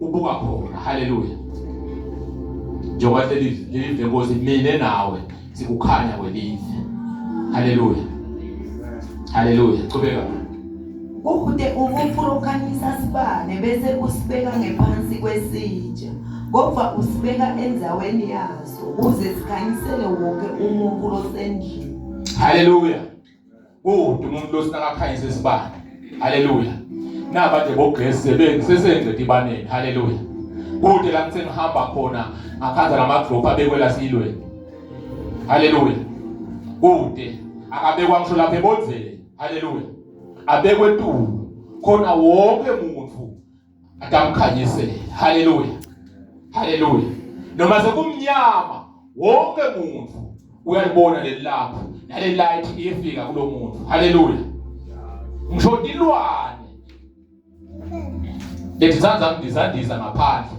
ubuka khona haleluya njengoba leli lenkosi mina nawe sikukhanya kwelize haleluya haleluya qhubeka Ubude ubufurukanyisa sibane bese usibeka ngephansi kwesitsha kodwa usibeka endaweni yaso ukuze sikhanyisele wonke umuntu osendlini haleluya Kudume umuntu osinakakhanyisa isibani. Haleluya. Naba nje bogesi sebenzi sesenze dibaneni. Haleluya. Kude la ngithe ngihamba khona ngakhanza lama group abekwela silweni. Haleluya. Kude akabekwa ngisho lapha ebonzele. Haleluya. Abekwe tu khona wonke muntu akamkhanyisele haleluya haleluya noma sekumnyama wonke muntu uyalibona lelilapho nale light iyefika kulo muntu haleluya ngisho tilwane lethi zanza ngizandiza ngaphandle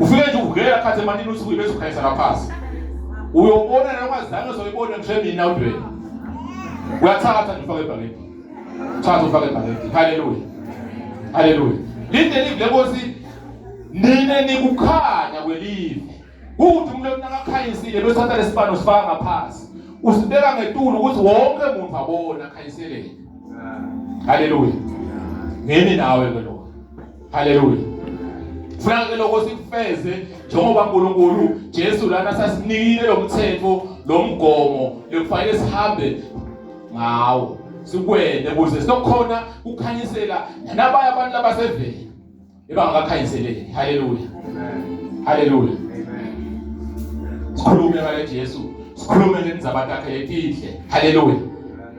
ufike nje ugela phathe emanini uthi bese ukhayisa ngaphansi uyobona noma zange uzoyibona ngisho mina udweni uyathatha nje ufake ebhakeni thatha ufake ebhakeni haleluya haleluya linde live lenkosi nina nikukhanya kwelive ukuthi umuntu onakakhanyisile bese thatha lesibano sifaka ngaphansi usibeka ngetulu ukuthi wonke umuntu abone akhayiseleke haleluya ngene nawe ke lo haleluya funa ke lokho sikufeze njengoba uNkulunkulu Jesu lana sasinikile lomthetho lomgomo lekufanele sihambe ngawo sikwende kuze sokhona kukhanyisela nabaya abantu labasevele ebangakakhanyiseleki haleluya haleluya sikhulume ngale Jesu sikhulume ngenzabatakhe letinhle haleluya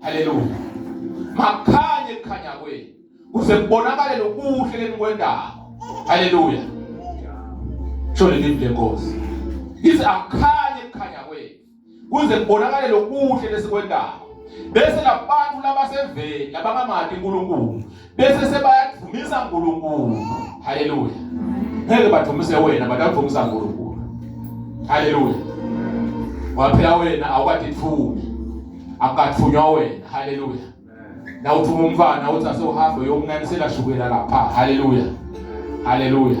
Haleluya. Makhanye kukhanya kwenu. Kuze kubonakale lokuhle lenikwendayo. Haleluya. Sho leli lenkosi. Ithi akhanye kukhanya kwenu. Kuze kubonakale lokuhle lesikwendayo. Bese labantu labaseveni labangamati uNkulunkulu bese sebayakudumisa uNkulunkulu haleluya ngeke badumise wena badumisa uNkulunkulu haleluya waphela wena awukadithumi akathunywa wena haleluya na uthuma umfana uthi asewuhambe yomnanisela shukela lapha haleluya haleluya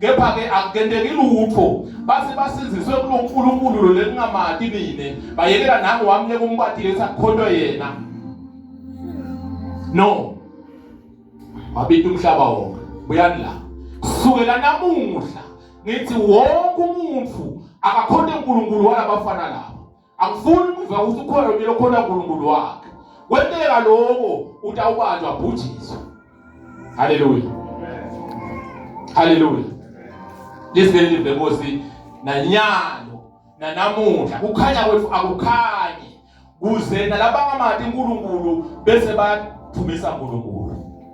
kepha-ke akukenteki lutho base basiziswe kulo nkulunkulu lo lelingamati mina bayekela nangu wamnyeka umbatile ukuthi akukhontwe yena no wabita umhlaba wonke buyani la kusukela namuhla ngithi wonke umuntu akakhonte unkulunkulu walabafana laba angifuni kuva ukuthi ukhona mina okhona uNkulunkulu wakhe kwenteka lokho utawubanjwa bhujiswe haleluya haleluya lisibele live Nkosi nanyalo nanamuhla kukhanya kwethu akukhanyi kuze nalabangamathi uNkulunkulu bese bathumisa uNkulunkulu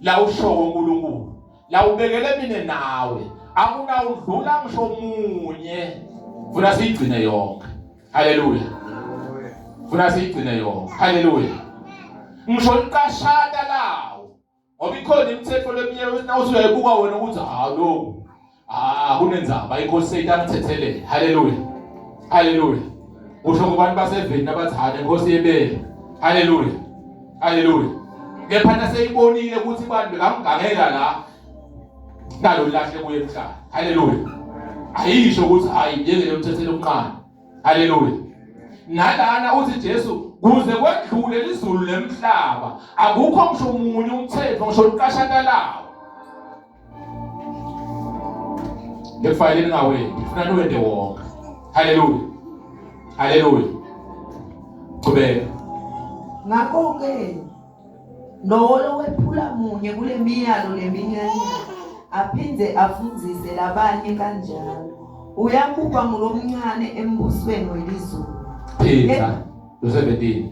la ushowo uNkulunkulu la ubekele mina nawe akunawudlula ngisho munye funa siyigcine yonke haleluya funa siyigcine yonke haleluya ngisho iqashata lawo ngoba ikhona imithetho leminye nawusuyayibuka wena ukuthi ha lokhu Ah, kunenzaba inkosi seyitangithethelele. Haleluya. Haleluya. Usho kubantu baseveni nabathane inkosi yebele. Haleluya. Haleluya. Kepha naseyibonile ukuthi abantu bekamgangela la nalo lahle kuye emhlaba. Haleluya. Ayisho ukuthi hayi ngeke umthethele umqana. Haleluya. Nalana uthi Jesu kuze kwedlule lizulu lemhlaba akukho ngisho umunye umthetho ngisho uqashakalayo ngekufayele ningawendi ngifuna niwende wonke haleluya haleluya qhubeka ngakho-ke nowolo wephula munye kule miyalo leminyanya aphinde afundise labanye kanjalo uyakuba ngulomncane embusweni welizulu phinda lo-17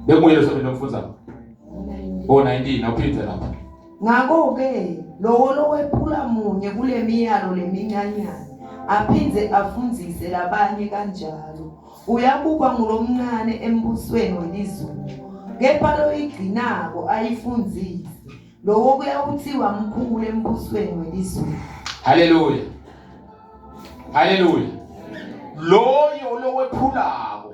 bekunguye lo-17 omfunzayo o-19 awuphinde lapha Ngakho-ke, lowo lowephula munye kule miyalo lemincanyana aphinde afundise labanye kanjalo uyabukwa ngulomncane embusweni welizulu kepha loyigcinako ayifundise lowo kuyawuthiwa mkhulu embusweni welizulu haleluya haleluya loyo lowephulako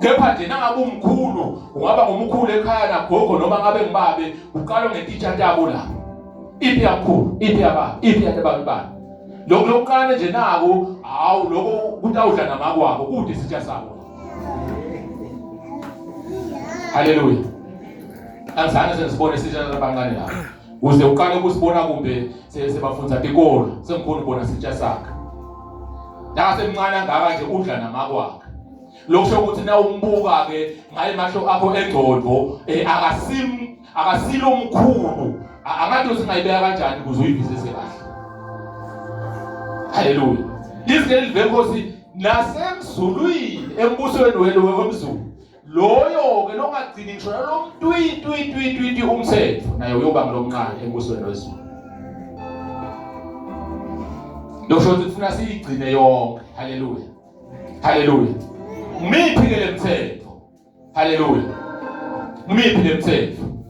kepha nje nangabe umkhulu ungaba ngumkhulu ekhaya nagogo noma ngabe ngibabe uqalwa ngetitsha tabo la iphi yakhulu iphi yaba iphi yabantu bani lokho lokuqala nje nako hawu lokho kutawudla namakwabo kude isitsha sabo haleluya angizange sesibone isitsha sabancane lapho Uze uqale ukusibona kumbe sebafundza tikolo sengikhona ubona sitsha sakhe. Nasemncane angaka nje udla namakwakhe. Lokusho ukuthi na umbuka ke ngaye masho akho engcondo eh, akasim akasilo omkhulu angathi singayibeka kanjani ukuze uyivisise kahle. Haleluya. Izwi leli venkosi nasemzulwini embusweni wenu wemzulu loyo-ke longagcini ngisho nalomtwitwitwitwiti umthetho naye uyoba ngilomncane embusweni wezulu lokusho ukuthi kufuna siyigcine yonke haleluya haleluya ngimiphi-ke le mthetho haleluya ngimiphi le mthetho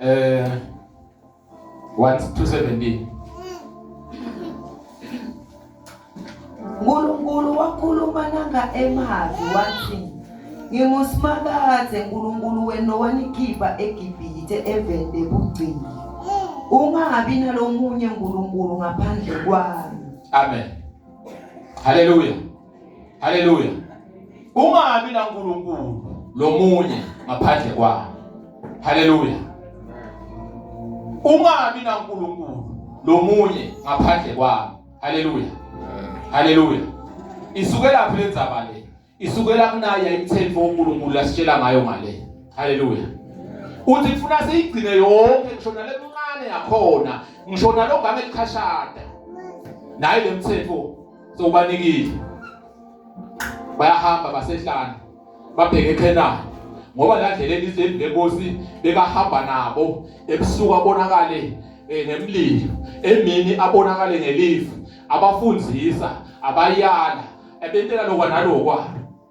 eh 1217 Nkulunkulu wakhuluma nanga emavi wathi ngingusimakade Nkulunkulu wena owanikhipha eGibhithe evende bugcini ungabi nalomunye Nkulunkulu ngaphandle kwami Amen Hallelujah Haleluya. Ungabi na Nkulunkulu lomunye ngaphandle kwakhe. Haleluya. Ungabi na Nkulunkulu lomunye ngaphandle kwakhe. Haleluya. Haleluya. Isukela phi lenzaba le? Isukela kunaye imthenfo uNkulunkulu asitshela ngayo ngale. Haleluya. Uthi kufuna siyigcine yonke ngisho nalemncane yakhona, ngisho nalongane likhashada. Nayi lemthetho so ubanikile bayahamba basehlane babheke eKhenani ngoba la ndlela elizweni lenkosi bekahamba nabo ebusuku abonakale eh, ngemlilo emini abonakale ngelifu abafundisa abayala ebentela lokwa nalokwa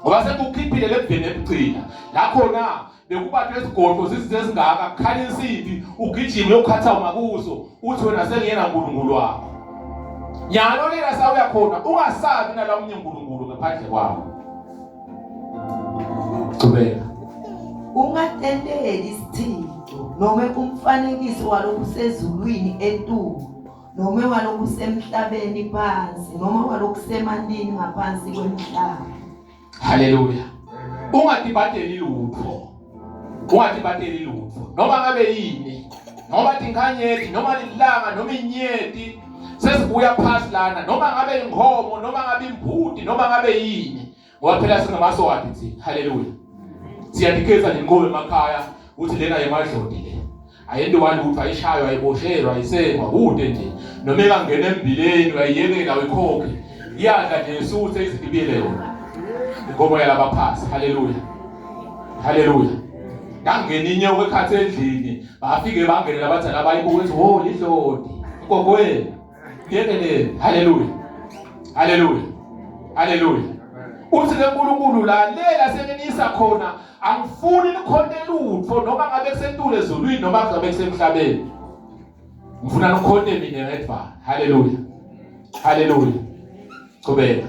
ngoba sekukhiphile lebheni ebugcina lakhona bekubantu esigodlo zizinto ezingaka kukhala insimbi ugijima uyokhatha umakuzo uthi wena sengiyena nkulunkulu wakho nyalo lela sawuya khona ungasabi nala omunye nkulunkulu ngaphandle kwakho qhubeka ungatendeli isithixo noma umfanekiso walokhu sezulwini entulo noma ewalokhu usemhlabeni phansi noma ewalokhu usemandini ngaphansi kwemhlaba haleluya ungadibadeli lutho ungadibadeli lutho noma ngabe yini noma tinkanyethi noma lilanga noma inyeti sesibuya phansi lana noma ngabe inkomo noma ngabe imbudi noma ngabe yini ngoba phela singamaswati thina haleluya siyadikeza nenqobo emakhaya ukuthi lena yemadlodi le ayento wani ukuthi ayishaywa ayiboshelwa ayisengwa kude nje noma engangena embileni uyayiyekela uyikhokhe iyadla nje isuthe izidibile yona inkomo yalabaphasi haleluya haleluya ngangena inyoka ekhathi endlini bafike bangene labadala bayibuka ukuthi wo lidlodi gogoyena Ngenene. Hallelujah. Hallelujah. Hallelujah. Uthi ke uNkulunkulu lalela seninisa khona angifuni nikhonte lutho noma ngabe kusentule ezulwini noma ngabe kusemhlabeni. Ngifuna nikhonte mina ngedwa. Hallelujah. Hallelujah. Qhubeka.